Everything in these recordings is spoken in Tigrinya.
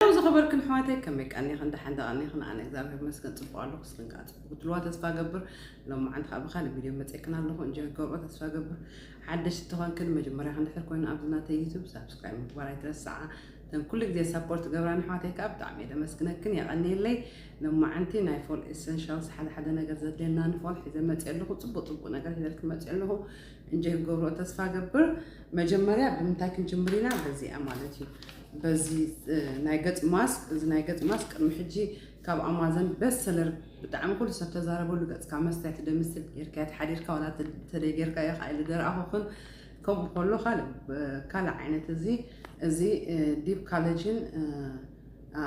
ሄሎ ዝኸበርክን ኣሕዋተይ ከመይ ቀኒኽን ደሓን ደቐኒኽን ኣነ እግዚኣብሔር ይመስገን ጽቡቕ ኣለኹ ንስኽን ከዓ ጽቡቕ ክትብልዋ ተስፋ ገብር ሎማዓንቲ ከዓ ብካልእ ቪድዮ መጺእክን ኣለኹ እንጆ ክትገብርኦ ተስፋ ገብር ሓደሽ ዝተኾንክን መጀመርያ ክንድሕር ኮይኑ ኣብዚ ናተይ ዩቱብ ሳብስክራይብ ምግባር ኣይትረስዓ እተን ኩሉ ግዜ ሳፖርት ገብራን ኣሕዋተይ ከዓ ብጣዕሚ እየ ደመስግነክን የቐንየለይ ሎማዓንቲ ናይ ፎል ኤሰንሻልስ ሓደ ሓደ ነገር ዘድልየና ንፎል ሒዘ መፅእ ኣለኹ ፅቡቅ ፅቡቅ ነገር ሒዘልክን መፅእ ኣለኹ እንጆ ክትገብርኦ ተስፋ ገብር መጀመርያ ብምንታይ ክንጅምር ኢና በዚኣ ማለት እዩ በዚ ናይ ገጽ ማስክ እዚ ናይ ገጽ ማስክ ቅድሚ ሕጂ ካብ ኣማዘን በስ ሰለር ብጣዕሚ ኩሉ ሰብ ተዛረበሉ ገጽካ መስትያት ትደምስል ጌርካያ ተሓዲርካ ዋላ ተደይ ጌርካዮ ከኣ ኢሉ ደረኣኹኽን ከምኡ ከሎ ካልእ ዓይነት እዚ እዚ ዲፕ ካለጅን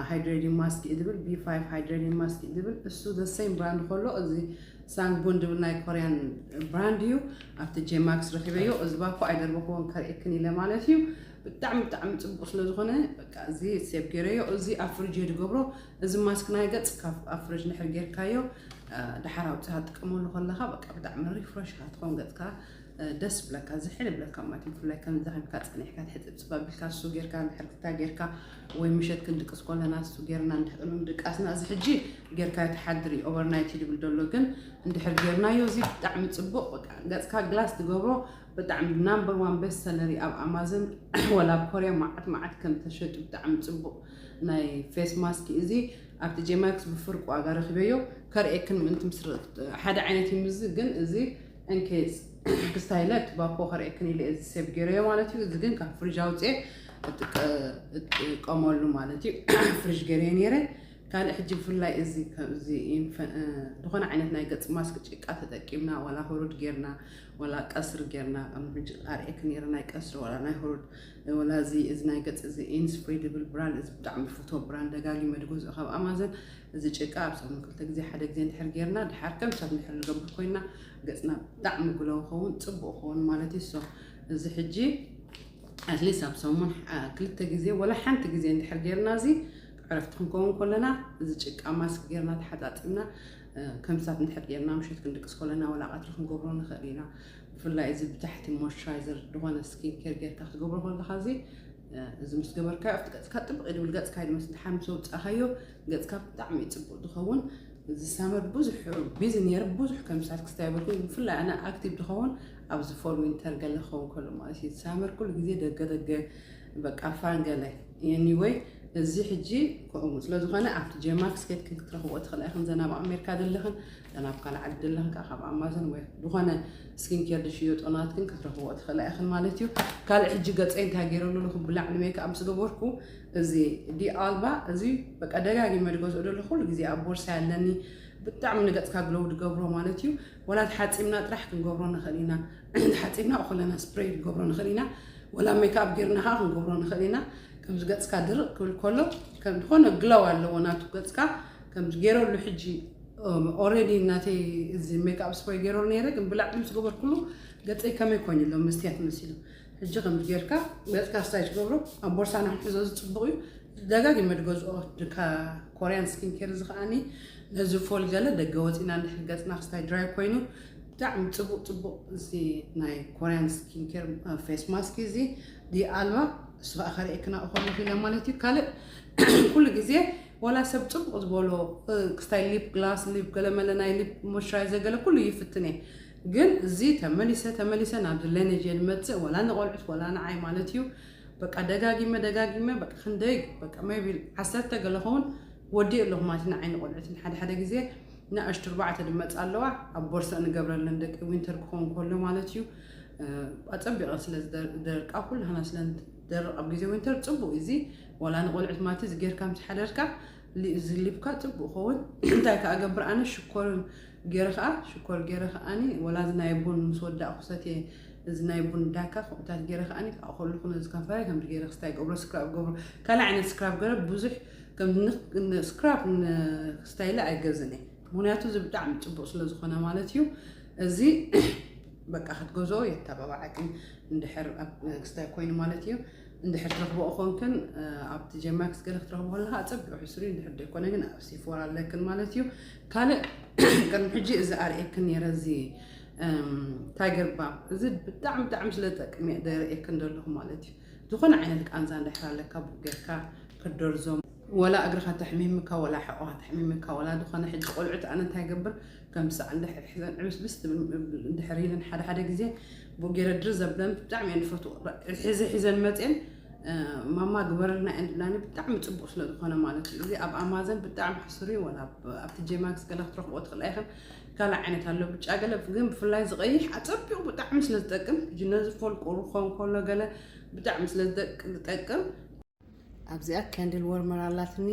ሃይድሬዲን ማስክ እዩ ዝብል ቢ ፋይቭ ሃይድሬዲን ማስክ እዩ ዝብል እሱ ዘሰይም ብራንድ ከሎ እዚ ሳንጉን ድብል ናይ ኮርያን ብራንድ እዩ ኣብቲ ጄማክስ ረኪበዮ እዚ ባኮ ኣይደርበክዎን ከርእክን ኢለ ማለት እዩ ብጣዕሚ ብጣዕሚ ጽቡቅ ስለ ዝኮነ በቃ እዚ ሴብ ጌረዮ እዚ ኣብ ፍርጅ እየ ድገብሮ እዚ ማስክ ናይ ገጽ ካብ ኣብ ፍርጅ ድሕር ጌርካዮ ድሓር ኣውጽኻ ትጥቀመሉ ከለኻ በቃ ብጣዕሚ ሪፍረሽ ኢካ ትኾን ገጽካ ደስ ብለካ ዝሕል ብለካ ማለት እዩ ብፍላይ ከምዛ ከምካ ጸኒሕካ ትሕጽብ ጽባ ቢልካ እሱ ጌርካ ንሕርትታ ጌርካ ወይ ምሸት ክንድቅስ ኮለና እሱ ጌርና እንድሕር ምድቃስና እዚ ሕጂ ጌርካዮ ትሓድሪ ኦቨርናይት ይድብል ደሎ ግን እንድሕር ጌርናዮ እዚ ብጣዕሚ ጽቡቅ በቃ ገጽካ ግላስ ትገብሮ ብጣዕሚ ናምበር ዋን ቤስት ሰለሪ ኣብ ኣማዘን ወላ ኣብ ኮርያ ማዓት ማዓት ከም ተሸጡ ብጣዕሚ ጽቡቅ ናይ ፌስ ማስኪ እዚ ኣብቲ ጄማክስ ብፍርቂ ዋጋ ረኪበዮ ከርእየክን ምእንቲ ምስ ሓደ ዓይነት እዩ ምዚ ግን እዚ እንኬዝ ክስታይለት ባኮ ከርእየክን ኢለ እዚ ሴቭ ገይረዮ ማለት እዩ እዚ ግን ካብ ፍሪጅ ኣውጽኤ እጥቀመሉ ማለት እዩ ፍሪጅ ገይረዮ ነይረ ካልእ ሕጂ ብፍላይ እዚ ከምዚ ዝኾነ ዓይነት ናይ ገጽ ማስክ ጭቃ ተጠቂምና ዋላ ህሩድ ጌርና ወላ ቀስሪ ጌርና ከም ብጅ ኣርእየክ ነይረ ናይ ቀስሪ ወላ ናይ ሆሮድ ወላ እዚ እዚ ናይ ገጽ እዚ ኢንስፕሬድብል ብራንድ እዚ ብጣዕሚ ዝፈትዎ ብራንድ ደጋጊመ ዝገዝኦ ካብ ኣማዞን እዚ ጭቃ ኣብ ሰሙን ክልተ ግዜ ሓደ ግዜ እንድሕር ጌርና ድሓር ከም ሰብ እንድሕር ንገብር ኮይና ገጽና ብጣዕሚ ግለው ኸውን ጽቡቅ ኸውን ማለት እዩ ሶ እዚ ሕጂ ኣትሊስት ኣብ ሰሙን ክልተ ግዜ ወላ ሓንቲ ግዜ እንድሕር ጌርና እዚ ዕረፍቲ ክንከውን ከለና እዚ ጭቃ ማስክ ጌርና ተሓጣጢብና ከም ሳብ እንድሕር ጌርና ምሸት ክንድቅስ ኮለና ወላ ቀትሪ ክንገብሮ ንክእል ኢና ብፍላይ እዚ ብታሕቲ ሞይስቸራይዘር ድኮነ ስኪን ኬር ጌርካ ክትገብሮ ከለካ እዚ እዚ ምስ ገበርካዮ ኣብቲ ገጽካ ጥብቅ ይብል ገጽካ ይድመስ ድሓን ምስ ኣውጻእካዮ ገጽካ ብጣዕሚ እዩ ጽቡቅ ዝኸውን እዚ ሳመር ብዙሕ ቢዚ ነይረ ብዙሕ ከም ሳት ክስታይ በልኩ ብፍላይ ኣነ ኣክቲቭ ድኸውን ኣብዚ ፎል ዊንተር ገለ ክኸውን ከሎ ማለት እዩ ሳመር ኩሉ ግዜ ደገ ደገ በቃ ፋን ገለ ኤኒወይ እዚ ሕጂ ከምኡ ስለ ዝኾነ ኣብቲ ጀማክስ ኬትክን ክትረኽብኦ ትኽእላ ኢኽን ዘና ኣብ ኣሜሪካ ዘለኽን ዘና ኣብ ካልእ ዓዲ ዘለኽን ከዓ ካብ ኣማዞን ወይ ዝኾነ ስኪን ኬር ዝሽየጦ ናትክን ክትረኽብኦ ትኽእላ ኢኽን ማለት እዩ ካልእ ሕጂ ገፀ እንታይ ገይረሉ ኣለኹ ብላዕሊ ሜክኣፕ ምስ ገበርኩ እዚ ዲኣልባ እዚ በቃ ደጋጊመ ድገዝኦ ደሎ ኩሉ ግዜ ኣብ ቦርሳ ኣለኒ ብጣዕሚ ንገፅካ ግለው ድገብሮ ማለት እዩ ወላ ተሓፂምና ጥራሕ ክንገብሮ ንኽእል ኢና ተሓጺብና ኩለና ስፕረይ ክንገብሮ ንኽእል ኢና፣ ወላ ሜክኣፕ ጌርና ከኣ ክንገብሮ ንኽእል ኢና። ከምዚ ገጽካ ድርቕ ክብል ከሎ ከም ዝኾነ ግሎው ኣለዎ ናቱ ገጽካ ከምዚ ጌረሉ ሕጂ ኦረዲ ናተይ እዚ ሜክኣፕ ስፕረይ ጌረሉ ነይረ ግን ብላዕሊ ምስ ገበርኩሉ ገጸይ ከመይ ኮይኑ ኣሎ መስትያት መሲሉ ሕጂ ከምዚ ጌርካ ገጽካ ስታይ ትገብሮ ኣብ ቦርሳና ክንሕዞ እዚ ጽቡቕ እዩ ደጋጊመ ድገዝኦ ኮርያን ስኪን ኬር እዚ ከዓኒ ነዚ ፎል ገለ ደገ ወፂና እንድሕር ገፅና ክስታይ ድራይ ኮይኑ ብጣዕሚ ጽቡቅ ጽቡቅ እዚ ናይ ኮርያን ስኪን ኬር ፌስ ማስክ እዚ ድያ ኣልባ እሱ ከዓ ከርእየክና እኮነ ፊለ ማለት እዩ ካልእ ኩሉ ግዜ ወላ ሰብ ጽቡቅ ዝበሎ ክስታይ ሊፕ ግላስ ሊፕ ገለመለ ናይ ሊፕ ሞይስቸራይዘር ገለ ኩሉ ይፍትን እየ ግን እዚ ተመሊሰ ተመሊሰ ናብዚ ለነጅ እየ ዝመጽእ ወላ ንቆልዑት ወላ ንዓይ ማለት እዩ በቃ ደጋጊመ ደጋጊመ በቃ ክንደይ በቃ ሜቢ ዓሰርተ ገለ ኸውን ወዲእ ኣለኹ ማለት ንዓይ ንቆልዑትን ሓደ ሓደ ግዜ ንኣሽቱ ኣርባዕተ ድመጽ ኣለዋ ኣብ ቦርሳ ንገብረለን ደቂ ዊንተር ክኸውን ከሎ ማለት እዩ ኣጸቢቐን ስለ ዝደርቃ ኩላህና ስለ ንደርቕ ኣብ ግዜ ዊንተር ጽቡቅ እዚ ዋላ ንቆልዑት ማለት እዚ ጌርካ ምስ ሓደርካ ዝሊብካ ጽቡቅ ኸውን እንታይ ከኣ ገብር ኣነ ሽኮርን ገይረ ከኣ ሽኮር ገይረ ከኣኒ ወላ እዚ ናይ ቡን ምስ ወዳእኩ ሰትየ እዚ ናይ ቡን ዳካ ከምኡታት ገይረ ከኣኒ ከኣ ከለኹ ነዚ ከንፈረይ ከምዚ ገይረ ክስታይ ገብሮ ስክራብ ገብሮ ካልእ ዓይነት ስክራብ ገረ ብዙሕ ከም ስክራፕ ስታይለ ኣይገዝን እየ ምክንያቱ እዚ ብጣዕሚ ፅቡቅ ስለዝኮነ ማለት እዩ እዚ በቃ ክትገዝኦ የተባባዓኪ እንድሕር ክስታይ ኮይኑ ማለት እዩ እንድሕር ትረክበኦ ኮንክን ኣብቲ ጀማክስ ገለ ክትረክቦ ከለካ ኣፀቢዑ ሕስሪ እንድሕር ዘይኮነ ግን ኣብ ሲፎራ ኣለክን ማለት እዩ ካልእ ቅድሚ ሕጂ እዚ ኣርእየክን ነረ እዚ ታይገር ባም እዚ ብጣዕሚ ብጣዕሚ ስለዝጠቅም እየ ዘርእየክን ዘለኹ ማለት እዩ ዝኾነ ዓይነት ቃንዛ እንድሕር ኣለካ ቡክ ጌርካ ክትደርዞም ወላ እግርኻ ተሕሚምካ ወላ ሕቆኻ ተሕሚምካ ወላ ዝኾነ ሕጂ ቆልዑት ኣነ እንታይ ገብር ከም ሳዕ እንድሕር ሕዘን ዕብስብስ ትብል እንድሕር ኢለን ሓደ ሓደ ግዜ ቡክ ጌረ ድር ዘብለን ብጣዕሚ እየን ዝፈትዎ ሕዚ ሒዘን መፅን ማማ ግበረልና እየን ዝብላኒ ብጣዕሚ ፅቡቅ ስለዝኾነ ማለት እዩ እዚ ኣብ ኣማዘን ብጣዕሚ ሕሱር እዩ ወላ ኣብቲ ጄማክስ ገለ ክትረኽቦ ትኽእላ ኢኽን ካልእ ዓይነት ኣሎ ብጫ ገለ ግን ብፍላይ ዝቀይሕ ኣጸቢቑ ብጣዕሚ ስለ ዝጠቅም ጅነ ዝፈልቁ ርኾ እንከሎ ገለ ብጣዕሚ ስለ ዝጠቅም ኣብዚኣ ከንድል ወርመር ኣላትኒ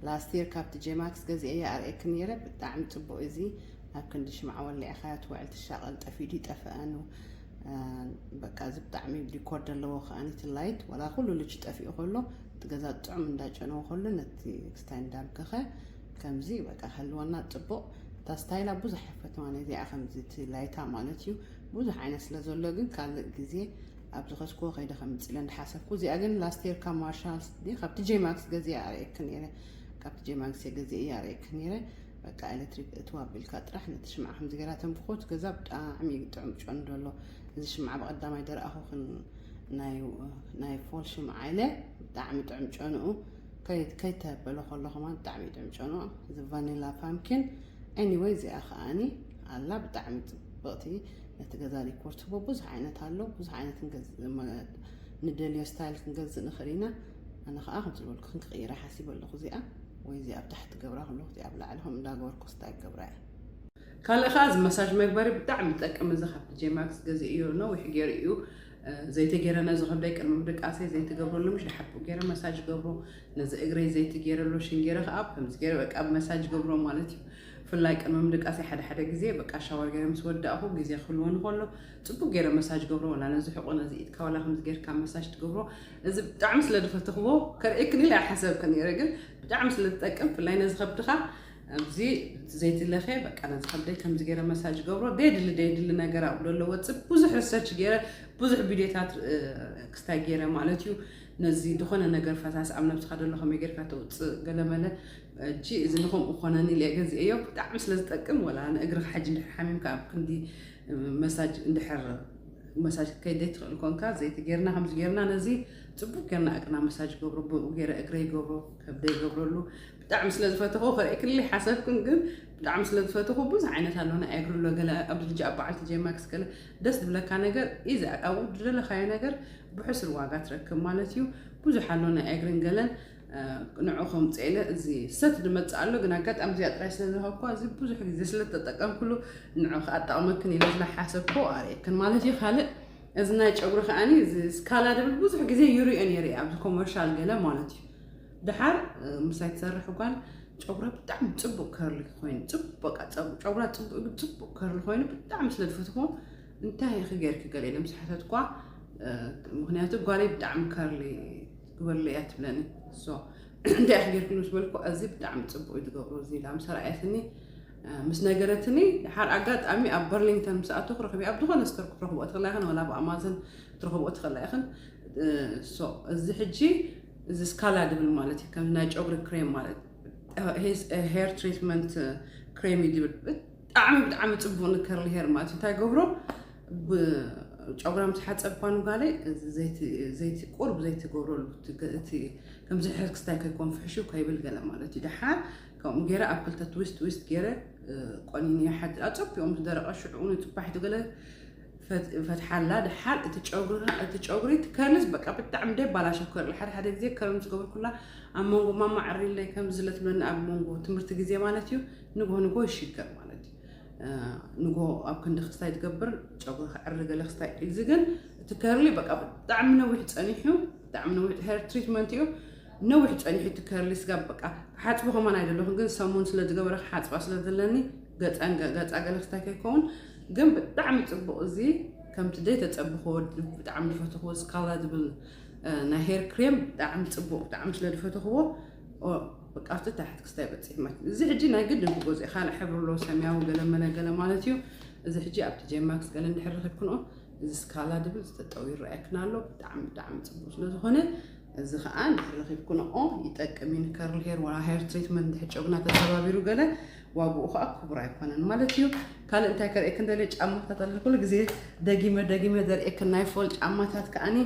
ላስቲር ካብቲ ጄማክስ ገዚኤያ ኣርእየኪ ነይረ ብጣዕሚ ፅቡቅ እዚ ኣብ ክንዲ ሽምዓ ወሊዕኻያ ትውዕል ትሻቀል ጠፊኡ ድዩ ጠፈኣኑ በቃ እዚ ብጣዕሚ ዲኮር ዘለዎ ከዓ ነቲ ላይት ዋላ ኩሉ ልጅ ጠፊኡ ከሎ እቲ ገዛ ጥዑም እንዳጨነወ ከሎ ነቲ ክስታይ እንዳምከኸ ከምዚ በቃ ክህልወና ጽቡቅ እታ ስታይላ ብዙሕ ኣይፈትዋን እየ እዚኣ ከምዚ እቲ ላይታ ማለት እዩ ብዙሕ ዓይነት ስለ ዘሎ ግን ካልእ ግዜ ኣብ ዝኸስኩዎ ከይደ ከምጽእ ኢለ እንዳሓሰብኩ እዚኣ ግን ላስቴር ካብ ማርሻል ድየ ካብቲ ጄ ማክስ ገዚኣ ኣርእየኪ ነይረ ካብቲ ጄ ማክስ እየ ገዚአ እየ ኣርእየኪ ነይረ በቃ ኤሌክትሪክ እትዋ ኣቢልካ ጥራሕ ነቲ ሽምዓ ከምዚ ገይራ ተንብኮት ገዛ ብጣዕሚ ጥዑም ጨንዶ ኣሎ እዚ ሽምዓ ብቐዳማይ ደረኣኹክን ናይ ፎል ሽምዓ ኢለ ብጣዕሚ ጥዑም ጨንኡ ከይ ከይ ተበሎ ከሎ ከማን ብጣዕሚ ደምጨኖ እዚ ቫኒላ ፓምኪን ኤኒወይ እዚኣ ከኣኒ ኣላ ብጣዕሚ ጽብቕቲ ነቲ ገዛ ዲኮር ትህቦ ብዙሕ ዓይነት ኣሎ ብዙሕ ዓይነት ንደልዮ ስታይል ክንገዝእ ንኽእል ኢና ኣነ ከዓ ከም ዝበልኩ ክንክቕይራ ሓሲበ ኣለኹ እዚኣ ወይ እዚኣ ኣብ ታሕቲ ገብራ ከለኹ እዚኣ ኣብ ላዕሊ ከምኡ እንዳገበርኩ ስታይል ገብራ እየ ካልእ ከዓ እዚ መሳጅ መግበሪ ብጣዕሚ ይጠቅም እዚ ካብ ዲጄ ማክስ ገዚእዮ ነዊሕ ገይሩ እዩ ዘይቲ ገይረ ነዚ ከብደይ ቅድሚ ምድቃሰይ ዘይቲ ገብረሉ ምሽ ድሓር ብኡ ገይረ መሳጅ ገብሮ ነዚ እግረይ ዘይቲ ገይረ ሎሽን ገይረ ከዓ ከምዚ ገይረ በቃ መሳጅ ገብሮ ማለት እዩ ብፍላይ ቅድሚ ምድቃሰይ ሓደ ሓደ ግዜ በቃ ሻወር ገይረ ምስ ወዳእኹ ግዜ ክህልዎ ንኸሎ ፅቡቅ ገይረ መሳጅ ገብሮ ዋላ ነዚ ሕቆ ነዚ ኢድካ ዋላ ከምዚ ገይርካ መሳጅ ትገብሮ እዚ ብጣዕሚ ስለ ድፈተኽዎ ከርእየክን ኢለ ኣይሓሰብክን ነይረ ግን ብጣዕሚ ስለ ዝጠቅም ብፍላይ ነዚ ከብድኻ ኣብዚ ዘይቲ ለኽየ በቃ ነዚ ከብደይ ከምዚ ገይረ መሳጅ ገብሮ ደየድሊ ደየድሊ ነገር ኣብሎ ኣሎ ወፅእ ብዙሕ ሪሰርች ገይረ ብዙሕ ቪድዮታት ክስታይ ገይረ ማለት እዩ ነዚ ዝኾነ ነገር ፈሳሲ ኣብ ነብስኻ ደሎ ከመይ ጌርካ ተውፅእ ገለመለ እቺ እዚ ንከምኡ ኮነኒ ኢለ ገዚአዮ ብጣዕሚ ስለ ዝጠቅም ወላ ንእግርኻ ሕጂ እንድሕር ሓሚምካ ኣብ ክንዲ መሳጅ እንድሕር መሳጅ ከይደይ ትኽእል ኮንካ ዘይቲ ጌርና ከምዚ ጌርና ነዚ ፅቡቅ ጌርና እግርና መሳጅ ገብሮ ብኡ ጌረ እግረ ይገብሮ ከብደ ይገብረሉ ብጣዕሚ ስለ ዝፈተኹ ከርእክልይ ሓሰብክን ግን ብጣዕሚ ስለ ዝፈተኹ ብዙሕ ዓይነት ኣሎ ናይ ኣግሪ ኣሎ ገለ ኣብዚ ሕጂ ኣብ በዓል ቲጄ ማክስ ገለ ደስ ዝብለካ ነገር ኢዚ ኣብ ዝደለኻዮ ነገር ብሕሱር ዋጋ ትረክብ ማለት እዩ ብዙሕ ኣሎ ናይ ኣግሪን ገለን ንዑ ከምፅኤለ እዚ ሰት ድመፅእ ኣሎ ግን ኣጋጣሚ እዚኣ ጥራይ ስለ ዝረኸብኳ እዚ ብዙሕ ግዜ ስለ ተጠቀምክሉ ንዑ ከዓ ጠቕመክን ኢለ ዝለሓሰብኮ ኣርእየክን ማለት እዩ ካልእ እዚ ናይ ጨጉሪ ከዓኒ እዚ ስካላ ድብል ብዙሕ ግዜ ይሪኦ ነይረ ኣብዚ ኮመርሻል ገለ ማለት እዩ ድሓር ምሳይ ትሰርሕ ጓል ጨጉራ ብጣዕሚ ፅቡቅ ከርሊ ኮይኑ ፅቡቅ በቃ ጨጉራ ፅቡቅ ግን ፅቡቅ ከርሊ ኮይኑ ብጣዕሚ ስለ ዝፈትዎ እንታይ ኢኺ ጌርኪ ገለ ኢለ ምስ ሓተትኳ ምክንያቱ ጓለይ ብጣዕሚ ከርሊ ግበርለ እያ ትብለኒ እንታይ ኢኺ ጌርክሉ ምስ በልኩ እዚ ብጣዕሚ ፅቡቅ እዩ ዝገብሮ እዚ ኢላ ምስ ረኣየትኒ ምስ ነገረትኒ ድሓር ኣጋጣሚ ኣብ በርሊንግተን ምስ ኣቶ ክረኽብ ኣብ ዝኾነ ስተር ክትረኽብኦ ትኽእላ ኢኽን ወላ ብኣማዘን ክትረኽብኦ ትኽእላ ኢኽን እዚ ሕጂ እዚ ስካላ ድብል ማለት እዩ ከም ናይ ጨጉሪ ክሬም ማለት ሄር ትሪትመንት ክሬም እዩ ድብል ብጣዕሚ ብጣዕሚ ፅቡቅ ንከርሊ ሄር ማለት እንታይ ገብሮ ጨጉራም ዝሓፀብ ኳኑ ጋለይ ዘይቲ ቁርብ ዘይቲ ገብረሉ እቲ ከምዚ ሕር ክስታይ ከይኮን ፍሕሹ ከይብል ገለ ማለት እዩ ድሓር ከምኡ ገይረ ኣብ ክልተ ትዊስት ትዊስት ገይረ ቆኒነ ይሓድር ኣፀቢኦም ዝደረቀ ሽዑ ንፅባሒቱ ገለ ፈትሓላ ደሓር እቲ ጨጉርና እቲ ጨጉሪ እቲ ከርልስ በቃ ብጣዕሚ ደይ ባላሸው ከርሊ ሓደ ሓደ ግዜ ከርል ምስ ገበርኩላ ኣብ መንጎ ማማ ዕሪለይ ከም ዝለትብለኒ ኣብ መንጎ ትምህርቲ ግዜ ማለት እዩ ንግሆ ንግሆ ይሽገር ማለት እዩ ንግሆ ኣብ ክንዲ ክስታይ ትገብር ጨጉሪ ክዕሪ ገለ ክስታይ እዚ ግን እቲ ከርሊ በቃ ብጣዕሚ ነዊሕ ፀኒሑ ብጣዕሚ ነዊሕ ሄር ትሪትመንት እዩ ነዊሕ ፀኒሑ እቲ ከርሊ ስጋ በቃ ክሓፅቡ ከማን ኣይደለኹን ግን ሰሙን ስለ ዝገበረ ክሓፅባ ስለ ዘለኒ ገፃ ገለ ክስታይ ከይከውን ግን ብጣዕሚ ጽቡቅ እዚ ከምቲ ደይ ተጸብኮ ብጣዕሚ ዝፈተክዎ ስካላ ዝብል ናይ ሄር ክሬም ብጣዕሚ ጽቡቅ ብጣዕሚ ስለ ዝፈተክዎ በቃ ኣብቲ ታሕቲ ክስታይ በጽሕ ማለት እዚ ሕጂ ናይ ግድን ክገዝኦ ካልእ ሕብሪ ኣሎ ሰማያዊ ገለመለ ገለ ማለት እዩ እዚ ሕጂ ኣብቲ ጀማክስ ገለ እንድሕር ረኪብክንኦ እዚ ስካላ ዝብል ዝተጠው ይረኣየክና ኣሎ ብጣዕሚ ብጣዕሚ ጽቡቅ ስለ ዝኾነ እዚ ከኣ ድሕሪ ረኺብኩንኦ ይጠቅም እዩ ንከርል ሄር ወላ ሄር ትሪትመንት ድሕሪ ጨጉና ተተባቢሩ ገለ ዋግኡ ከኣ ክቡር ኣይኮነን ማለት እዩ ካልእ እንታይ ከርእየክን ደልየ ጫማታት ኣለ ኩሉ ግዜ ደጊመ ደጊመ ዘርእየክን ናይ ፎል ጫማታት ከኣኒ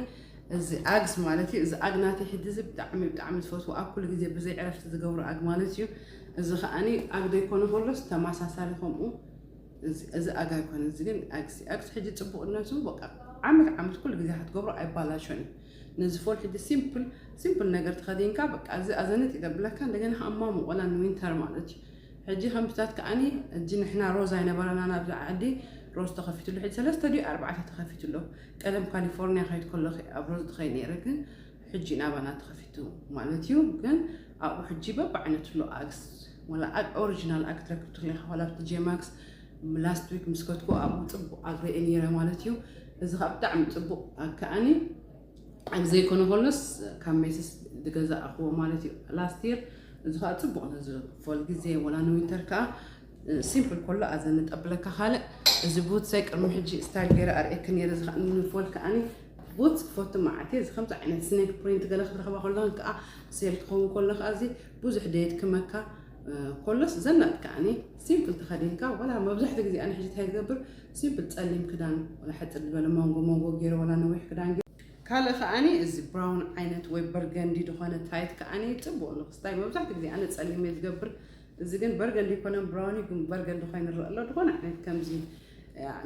እዚ ኣግስ ማለት እዩ እዚ ኣግ ናተይ ሕጂ እዚ ብጣዕሚ ብጣዕሚ ዝፈትዎ ኣብ ኩሉ ግዜ ብዘይ ዕረፍቲ ዝገብሮ ኣግ ማለት እዩ እዚ ከዓኒ ኣግ ዘይኮነ ከሎስ ተመሳሳሊ ከምኡ እዚ ኣግ ኣይኮነ እዚ ግን ኣግሲ ኣግሲ ሕጂ ፅቡቕነቱ በቃ ዓመት ዓመት ኩሉ ግዜ ክትገብሮ ኣይባላሾን እዩ ነዚ ፎል ሕጂ ሲምፕል ሲምፕል ነገር ተኸዲንካ በቃ እዚ ኣዘንጥ እዩ ዘብለካ እንደገና ከኣ ማሙቆላ ንዊንተር ማለት እዩ ሕጂ ከምታት ከኣኒ ሕጂ ንሕና ሮዝ ኣይነበረናን ኣብዚ ዓዲ ሮዝ ተኸፊትሉ ሕጂ ሰለስተ ድዩ ኣርባዕተ ተኸፊቱ ኣሎ ቀደም ካሊፎርኒያ ከይድ ከለኹ ኣብ ሮዝ ትኸይ ነይረ ግን ሕጂ ናባና ተኸፊቱ ማለት እዩ ግን ኣብኡ ሕጂ በብዓይነቱ ኣሎ ኣግስ ወላ ኦሪጂናል ኣክትረክብቱ ሪኢኻ ዋላ ኣብቲ ጄማክስ last week ምስ ከድኩ ኣብኡ ፅቡቕ ኣግሪየ ነይረ ማለት እዩ እዚ ከዓ ብጣዕሚ ፅቡቕ ኣከኣኒ ኣብ ዘይኮነ ከሎስ ካብ ሜስስ ዝገዛእኽዎ ማለት እዩ ላስት ይር እዚ ከዓ ፅቡቕ ነዚ ፎል ግዜ ወላ ንዊንተር ከዓ ሲምፕል ከሎ ኣዘ ንጠብለካ ካልእ እዚ ቡትሰይ ቅድሚ ሕጂ ስታይል ገይረ ኣርእየኪ ነይረ እዚ ከዓ ንፎል ከዓኒ ቡትስ ክፈቱ መዓልቲ እዚ ከምዚ ዓይነት ስኔክ ፕሪንት ገለ ክትረኽባ ከለኹን ከዓ ሴል ክኸውን ከሎ ከዓ እዚ ብዙሕ ደየት ክመካ ኮሎስ ዘናጥ ከኣኒ ሲምፕል ተኸዲንካ ወላ መብዛሕትኡ ግዜ ኣነ ሕጂ እንታይ ዝገብር ሲምፕል ጸሊም ክዳን ወላ ሕጽር ዝበለ መንጎ መንጎ ገይረ ወላ ነዊሕ ክዳን ካልእ ከኣኒ እዚ ብራውን ዓይነት ወይ በርገንዲ ዝኾነ ታይት ከኣኒ ጽቡቕ ንክስታይ መብዛሕትኡ ግዜ ኣነ ጸሊም እየ ዝገብር እዚ ግን በርገንዲ ይኮነን ብራውን ግን በርገንዲ ኮይኑ ይረአ ኣሎ ዝኾነ ዓይነት ከምዚ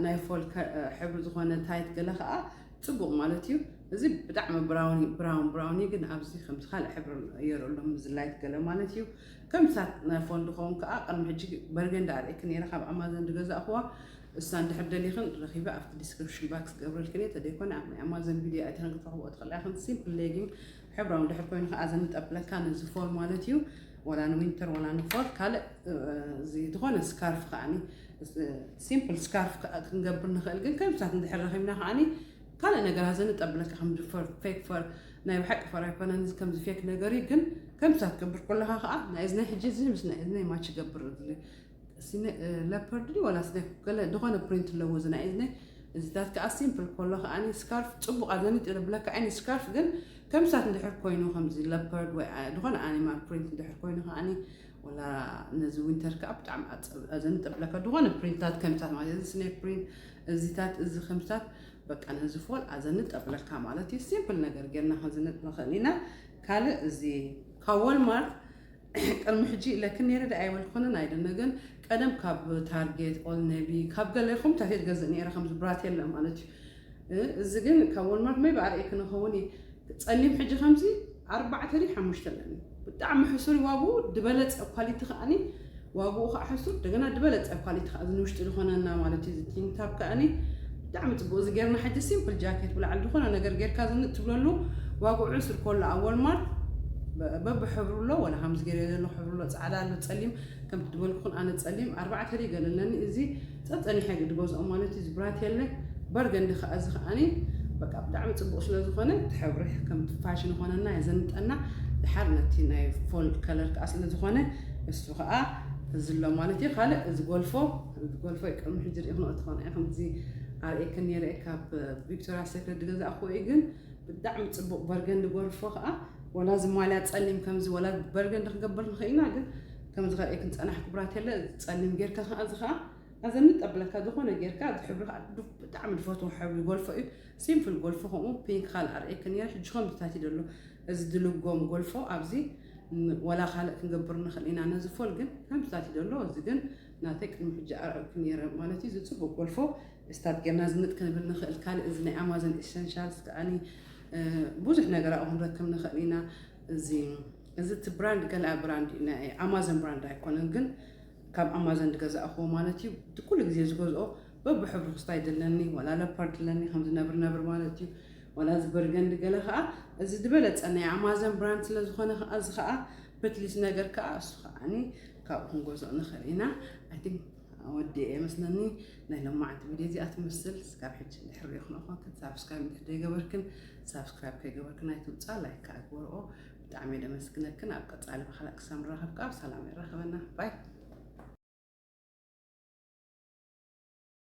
ናይ ፎል ሕብሪ ዝኾነ ታይት ገለ ከኣ ጽቡቅ ማለት እዩ እዚ ብጣዕሚ ብራውን ብራውን ብራውን እዩ ግን ኣብዚ ከምዚ ካልእ ሕብሪ የሩ ኣሎ ምዝላይት ገለ ማለት እዩ ከም ሳት ናይ ፎን ድኸውን ከዓ ቅድሚ ሕጂ በርገንዲ ኣርእኪ ነይረ ካብ ኣማዘን ዝገዛእኹዋ እሳ እንድሕር ደሊኽን ረኺበ ኣብቲ ዲስክሪፕሽን ባክስ ገብረልክን እየ ተደይኮነ ኣብ ናይ ኣማዘን ቪድዮ ኣይተን ክትረኽብኦ ትኽእላ ኢኽን ሲምፕል ሌጊም ሕብራዊ እንድሕር ኮይኑ ከዓ እዚ ንጠብለካ ነዚ ፎል ማለት እዩ ወላ ንዊንተር ወላ ንፎል ካልእ እዚ ዝኾነ ስካርፍ ከዓኒ ሲምፕል ስካርፍ ክንገብር ንኽእል ግን ከምሳት እንድሕር ረኺብና ከዓኒ ካልእ ነገራት እዚ ንጠብለካ ከምዚ ፌክ ፈር ናይ ብሓቂ ፈር ኣይኮነን እዚ ከምዚ ፌክ ነገር እዩ ግን ከምሳት ክገብር ከለካ ከዓ ናይ እዝነይ ሕጂ እዚ ምስ ናይ እዝነይ ማች ይገብር እሲኒ ለፐርድ ድዩ ዋላስ ናይ ገለ ድኾነ ፕሪንት ኣለዎ እዚ ናይ እዝኒ እዚታት ከኣ ሲምፕል ኮሎ ከኣኒ ስካርፍ ጽቡቕ ኣብ ዘንጢ ብለካ ዓይኒ ስካርፍ ግን ከምሳት እንድሕር ኮይኑ ከምዚ ለፐርድ ወይ ድኾነ ኣኒማል ፕሪንት እንድሕር ኮይኑ ከኣኒ ወላ ነዚ ዊንተር ከኣ ብጣዕሚ ዘንጢ ብለካ ድኾነ ፕሪንታት ከምሳት ማለት እዚ ስኔ ፕሪንት እዚታት እዚ ከምሳት በቃ ነዚ ፎል ኣዘንጥ ኣብለካ ማለት እዩ ሲምፕል ነገር ጌርና ክንዝንጥ ንኽእል ኢና ካልእ እዚ ካብ ወልማርት ቅድሚ ሕጂ ኢለክን ኔረ ድኣ ኣይበልኩንን ኣይደነ ግን ቀደም ካብ ታርጌት ኦል ነቢ ካብ ገለ ኮምታት እየ ዝገዝእ ኔረ ከምዚ ብራቴላ ማለት እዩ እዚ ግን ካብ ወልማርት መይ ብኣርእይ ክንኸውን እየ ጸሊም ሕጂ ከምዚ ኣርባዕተ ድዩ ሓሙሽተ ኣለኒ ብጣዕሚ ሕሱር ዋግኡ ድበለጸ ኳሊቲ ከኣኒ ዋግኡ ከዓ ሕሱር እንደገና ድበለጸ ኳሊቲ ከዓ እዚ ንውሽጢ ዝኾነና ማለት እዩ እዚ ቲንታብ ከኣኒ ብጣዕሚ ጽቡቅ እዚ ጌርና ሕጂ ሲምፕል ጃኬት ብላዕሊ ድኮነ ነገር ጌርካ ዝንጥ ትብለሉ ዋግዑ ዕሱር ኮሎ ኣብ ወልማርት በብ ሕብሩ ኣሎ ወላ ከምዚ ጌርዮ ዘለኩ ሕብሪ ኣሎ ጻዕዳ ኣሎ ጸሊም ከምቲ ድበልኩኩን ኣነ ጸሊም ኣርባዕተ ሪገል ኣለኒ እዚ ጸጸኒሐ ድገዝኦ ማለት እዚ ብራት የለ በርገንዲ ከኣ እዚ ከኣኒ በቃ ብጣዕሚ ጽቡቅ ስለ ዝኮነ እቲ ሕብሪ ከምቲ ፋሽን ይኮነና የዘንጠና ድሓር ነቲ ናይ ፎል ከለር ከኣ ስለ ዝኮነ እሱ ከኣ እዚ ኣሎ ማለት እዩ ካልእ እዚ ጎልፎ ከምዚ ጎልፎይ ቅድሚ ሕጂ ሪኢክንኦ ተኾና ኢክን እዚ ኣርእየክን ነይረ ካብ ቪክቶሪያ ሴክሬት ዝገዛእክዎ እዩ ግን ብጣዕሚ ጽቡቅ በርገንዲ ጎልፎ ከዓ ወላ እዚ ማልያ ጸሊም ከምዚ ወላ በርገንዲ ክገብር ንኽእል ኢና ግን ከምዚ ከርእየክን ጸናሕ ክብራት የለ ጸሊም ጌርካ ከዓ እዚ ከዓ ኣዘኒ ጠብለካ ዝኾነ ጌርካ እዚ ሕብሪ ከዓ ብጣዕሚ ዝፈትዎ ሕብሪ ጎልፎ እዩ ሲምፕል ጎልፎ ከምኡ ፒንክ ካልእ ኣርእየክን ነይረ ሕጂ ከምዚታት እዩ ዘሎ እዚ ድልጎም ጎልፎ ኣብዚ ወላ ካልእ ክንገብር ንኽእል ኢና ነዚ ፎል ግን ከምዚታት እዩ ዘሎ እዚ ግን ናተይ ቅድሚ ሕጂ ኣርዕብኪ ኔረ ማለት እዩ ዝጽቡቅ ጎልፎ እስታት ጌርና ዝንጥ ክንብል ንክእል ካልእ እዚ ናይ ኣማዞን ኤሰንሻልስ ከኣኒ ብዙሕ ነገር ኣብኡ ክንረክብ ንክእል ኢና እዚ እዚ እቲ ብራንድ ገለኣ ብራንድ እዩ ናይ ኣማዞን ብራንድ ኣይኮነን ግን ካብ ኣማዞን ዝገዛእኹዎ ማለት እዩ እቲ ኩሉ ግዜ ዝገዝኦ በብሕብሩ ክስታ ይድለኒ ወላ ለፓርድ ድለኒ ከምዚ ነብር ነብር ማለት እዩ ወላ እዚ በርገንዲ ገለ ከዓ እዚ ዝበለፀ ናይ ኣማዞን ብራንድ ስለዝኾነ ከዓ እዚ ከዓ ፕትሊስ ነገር ከዓ እሱ ከዓኒ ካብኡ ክንገዝኦ ንኽእል ኢና ኣይ ቲንክ ወዲኤ እየ መስለኒ ናይ ሎማዓንቲ ቪድዮ እዚኣ ትመስል እስካብ ሕጂ ድሕሪ ሪኢኹን ኣኾንክን ሳብስክራይብ እንድሕር ዘይገበርክን ሳብስክራይብ ከይገበርክን ኣይትውፃ ላይክ ከዓ ግበርኦ ብጣዕሚ እየ ደመስግነክን ኣብ ቀፃሊ ብካልእ ክሳብ ንራኸብ ከዓ ብሰላም የራኽበና ባይ